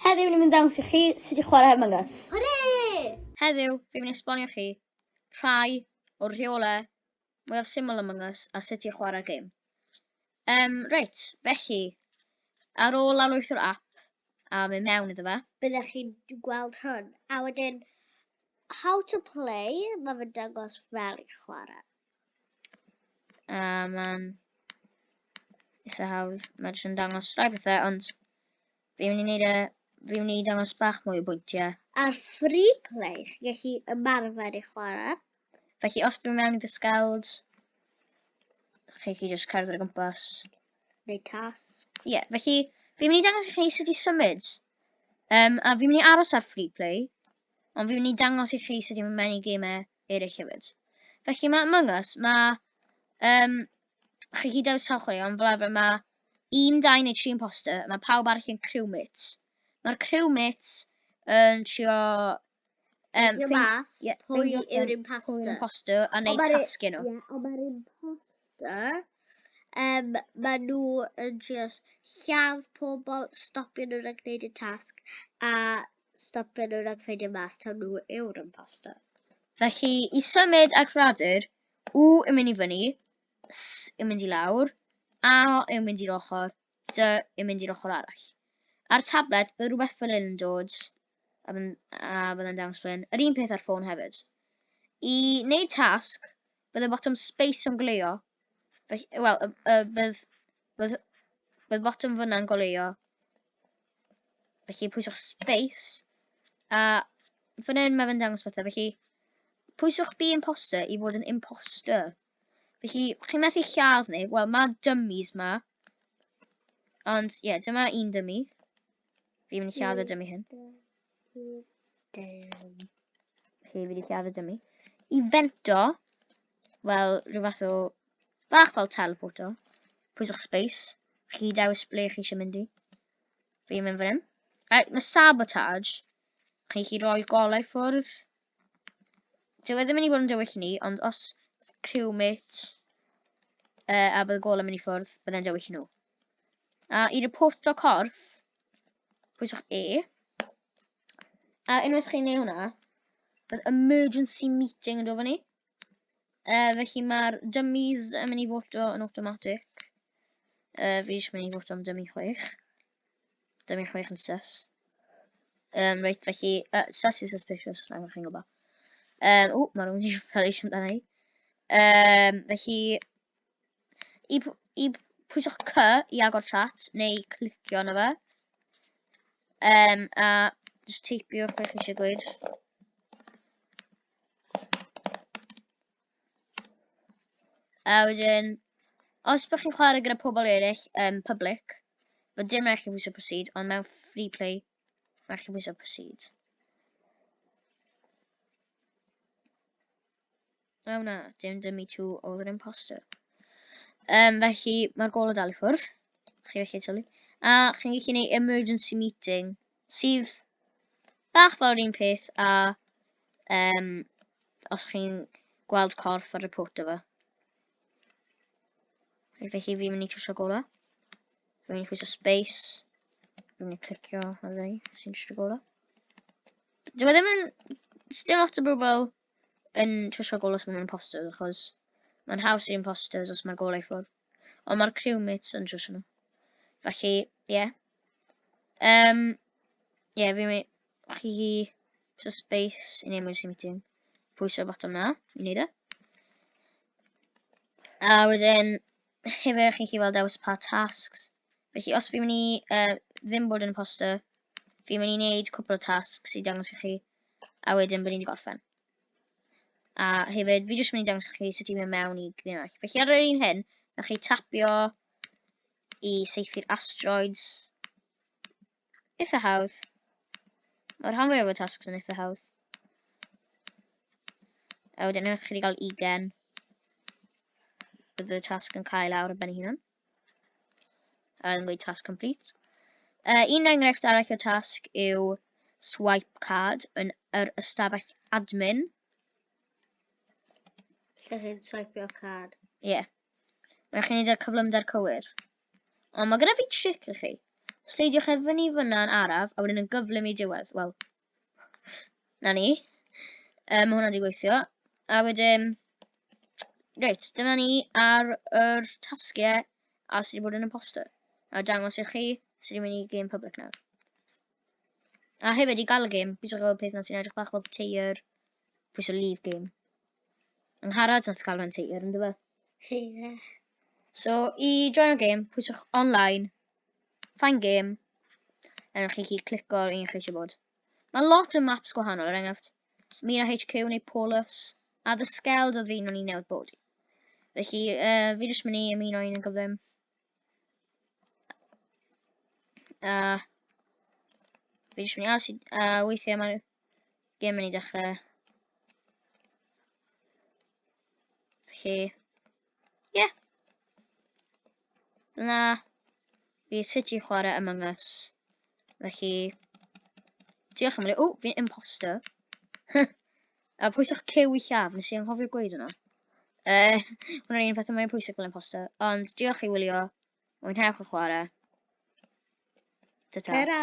Heddiw ni'n mynd dangos i chi sut i chwarae Among Us. Hwre! Heddiw, fi'n mynd i esbonio chi rhai o'r rheolau mwyaf syml Among Us a sut i chwarae gêm. Um, reit, felly, ar ôl lawrlwytho'r app a mynd mewn iddo fe. Byddech chi'n gweld hwn. A wedyn, how to play, mae fe'n dangos fel i chwarae. A mae'n eitha hawdd. Mae'n dangos rai bethau, ond Fi'n mynd i wneud e... Fi'n mynd i dangos bach mwy o bwyntiau. Ar free play, chi'n gallu ymarfer i chwarae. Felly, os dwi'n mewn i dy sgawd, chi'n gallu just cerdded o gwmpas. Neu task. Ie, yeah, felly, fi'n mynd i dangos i chi sut i symud. Um, a fi'n mynd i aros ar free play, ond fi'n mynd i dangos i chi sut i mynd mewn i gemau eraill hefyd. Felly, mae Among Us, mae um, chi gyd ar y safle, ond fel arfer mae un, dau neu tri imposter, mae pawb arall yn crew mates. Mae'r crew mates yn trio... Um, Dio mas, yeah, pwy yw'r imposter. Pwy yw'r imposter a neud tasgu nhw. Ie, ond mae'r imposter, um, mae nhw yn trio lladd pobl, stopio nhw rhag gwneud y tasg, a stopio nhw rhag ffeindio mas taw nhw yw'r imposter. Felly, i symud ac radur, U yn mynd i fyny, S yn mynd i lawr, A yn mynd i'r ochr, D yn mynd i'r ochr arall. Ar tablet, bydd rhywbeth fel hyn yn dod, a byddai'n dangos fel hyn. Yr un peth ar ffôn hefyd. I wneud tasg, bydd y botwm space yn goleuo, wel, bydd, bydd, bydd botwm fyna'n goleuo Felly pwyswch space. A fan hyn mae fe'n dangos pethau. Felly pwyswch be imposter i fod yn imposter. Felly chi'n methu lladd neb. Wel mae dummies ma. Ond ie, yeah, dyma un dummy. Fi'n mynd i lladd y dummy hyn. Damn. Felly, fi wedi siarad am mi. I fento, wel, rhyw fath o bach fel teleporto. Pwyswch space. Chi dewis ble chi eisiau mynd i. Fi'n mynd fan hyn. Right, mae sabotage. Chi chi roi'r golau ffwrdd. Dyw e ddim yn mynd i fod yn dywyll i ni, ond os criw mit uh, a bydd y gol yn mynd i ffwrdd, byddai'n dywyll i nhw. A i reporto corff, pwyswch E. A unwaith chi'n ei hwnna, bydd emergency meeting yn dod fyny. Uh, felly mae'r dummies yn mynd i foto yn automatic. Uh, fi eisiau mynd i foto am dummy chwech. Dim i chwech yn sus. Um, reit, felly, uh, sus is suspicious, rhaid bod chi'n gwybod. Um, o, mae rhywun wedi cael eisiau amdana i. Um, felly, i, i pwyswch C i agor chat, neu clicio yna fe. Um, a just teipio'r beth chi eisiau gweud. A wedyn, os bych chi'n chwarae gyda pobl eraill yn um, public, fod dim rhaid chi bwysio proceed, ond mewn free play, rhaid chi bwysio proceed. O na, dim dim i tŵ oedd yr imposter. Um, felly, mae'r gol o dal i ffwrdd. Chi felly tywlu. A chi'n gallu gwneud emergency meeting sydd bach fel yr un peth a um, os chi'n gweld corff ar y pot efo. Felly fi'n mynd i trwsio gola. Fi'n mynd i chwisio space. Fi'n mynd i clicio ar rei sy'n trwsio gola. Dwi'n e ddim yn... Still lot o bobl yn trwsio gol os maen nhw'n imposters, achos mae'n haws i imposters os mae'r golau ffwrdd. Ond mae'r crewmates yn trwsio nhw. Felly, ie. Yeah. Um, ie, yeah, fi'n mynd... Chi hi... So space yn emergency meeting. Pwyso bottom na, i wneud e. A wedyn, hefyd chi'n chi weld dewis pa tasks Felly os fi'n mynd i uh, ddim bod yn imposter, fi'n mynd i wneud cwpl o tasks i dangos i chi, a wedyn bod ni'n gorffen. A hefyd, fi jyst mynd i dangos i chi sut i'n mynd mewn i Green Earth. Felly ar yr un hyn, na chi tapio i seithi'r asteroids, eitha hawdd. Mae'r rhan fwyaf o'r tasks yn eitha hawdd. A wedyn unwaith chi wedi cael ugen, bydd y tasg yn cael awr yn ben hunan. A yn gweud task complete. Uh, un enghraifft arall o tasg yw swipe card yn yr ystafell admin. Lle chi'n swipeio card? Ie. Yeah. Mae'n chi'n neud ar cyflymder cywir. Ond mae gyda fi tric i chi. Sleidiwch e fyny fyna yn araf, a wedyn yn gyflym i diwedd. Wel, na ni. Um, mae hwnna wedi gweithio. A wedyn, reit, dyma ni ar yr tasgiau a sydd wedi bod yn imposter. A dangos i chi sydd wedi mynd i game public nawr. A hefyd i gael y game, bydd chi'n gweld peth na sy'n edrych bach fel teir Pwys o leave game. Yng Ngharad nath cael rhan teir, ynddo fe? Ie. So, i join o game, pwyswch online, find game, a chi chi clico ar un chi eisiau bod. Mae lot o maps gwahanol, er enghraifft, Mina HQ neu Paulus, a The Skeld oedd un o'n i'n newid bod i. Felly, uh, fi jyst mynd i ymuno un yn gyflym. Uh, fi jyst mynd i aros i... Uh, weithiau mae'r gym yn ei dechrau. Felly... Ie. Yeah. Dyna... Fi sut i chwarae Among Us. Felly... Diolch am hynny. O, fi'n imposter. A pwysach cyw i llaw, nes i anghofio gweud yna. Uh, Hwna'r un pethau mae'n pwysig fel yn posta. Ond diolch i wylio. Mwynhewch y chwarae. Ta-ta. Ta-ra!